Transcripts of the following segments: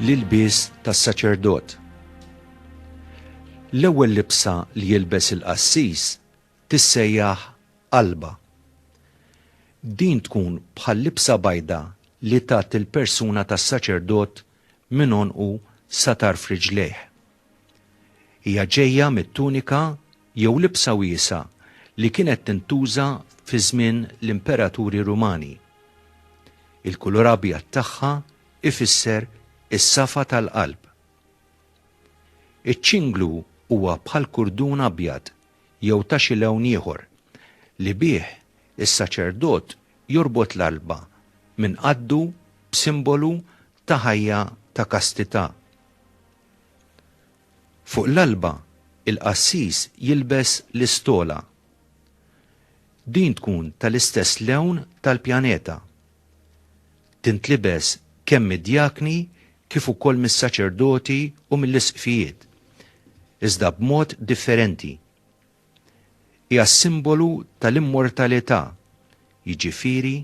l-ilbies tas-saċerdot. L-ewwel libsa li jilbes il-qassis tissejjaħ qalba. Din tkun bħal libsa bajda li tat il-persuna tas-saċerdot minn onqu sa tarf riġlejh. Hija ġejja mit-tunika jew libsa wiesgħa li kienet tintuża fi żmien l-imperaturi Rumani. Il-kulur abjad tagħha ifisser is-safa tal-qalb. Iċ-ċinglu huwa bħal kurdun abjad jew ta' xi lewn ieħor li bih is-saċerdot jorbot l-qalba minn qaddu b'simbolu ta' ħajja ta' kastità. Fuq l-alba, il-qassis jilbes l-istola. Din tkun tal-istess lewn tal-pjaneta. Tintlibes kemm mid-djakni kif ukoll mis-saċerdoti u mill-isqfijiet, iżda b'mod differenti. hija simbolu tal-immortalità, jiġifieri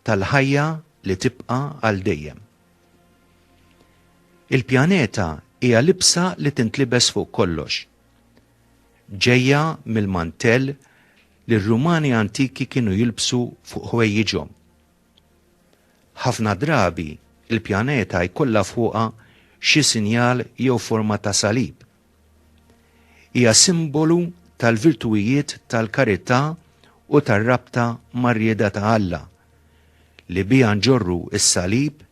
tal-ħajja li tibqa' għal dejjem. Il-pjaneta hija libsa li tintlibes fuq kollox. Ġejja mill-mantell li r-Rumani antiki kienu jilbsu fuq ħwejjiġhom. Ħafna drabi il-pjaneta jkollha fuqha xi sinjal jew forma ta' salib Hija simbolu tal-virtuwijiet tal-karità u tar-rabta mar-rieda ta' Alla, li biha nġorru s-salib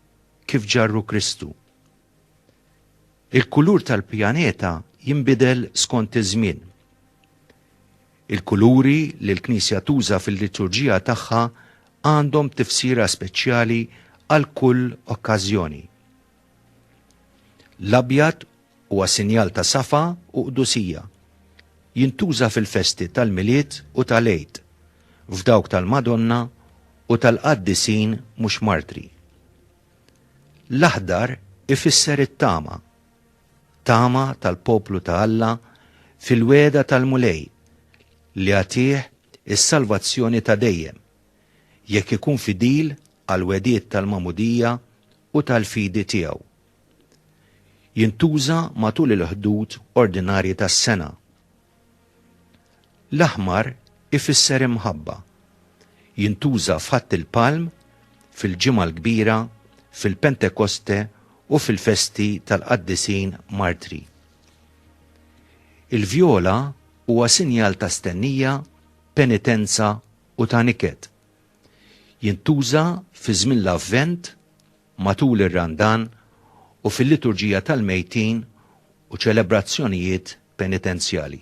kif ġarru Kristu. Il-kulur tal-pjaneta jinbidel skont iż-żmien. Il-kuluri li l-Knisja tuża fil-liturġija tagħha għandhom tifsira speċjali għal kull okkażjoni. L-abjad Huwa sinjal ta' safa u qdusija. Jintuża fil-festi tal-Milied u tal-Għid, f'dawk tal-Madonna u tal-qaddisin mhux martri. L-aħdar ifisser it-tama, tama tal-poplu ta' Alla fil-wegħda tal-Mulej li jagħtih is-salvazzjoni ta' dejjem jekk ikun fidil għall-wegħdiet tal-magħmudija u tal-fidi tiegħu. jintuża matul il-ħdud ordinarji tas-sena. L-aħmar ifisser imħabba. Jintuża f'Ħadd il-Palm, fil-Ġimgħa l-Kbira, fil-Pentekoste u fil-festi tal-qaddisin martri. Il-vjola huwa sinjal ta' stennija, penitenza u ta' niket. Jintuża fi żmien l-Avvent matul ir-Randan u fil-Liturġija tal-Mejtin u ċelebrazzjonijiet penitenzjali.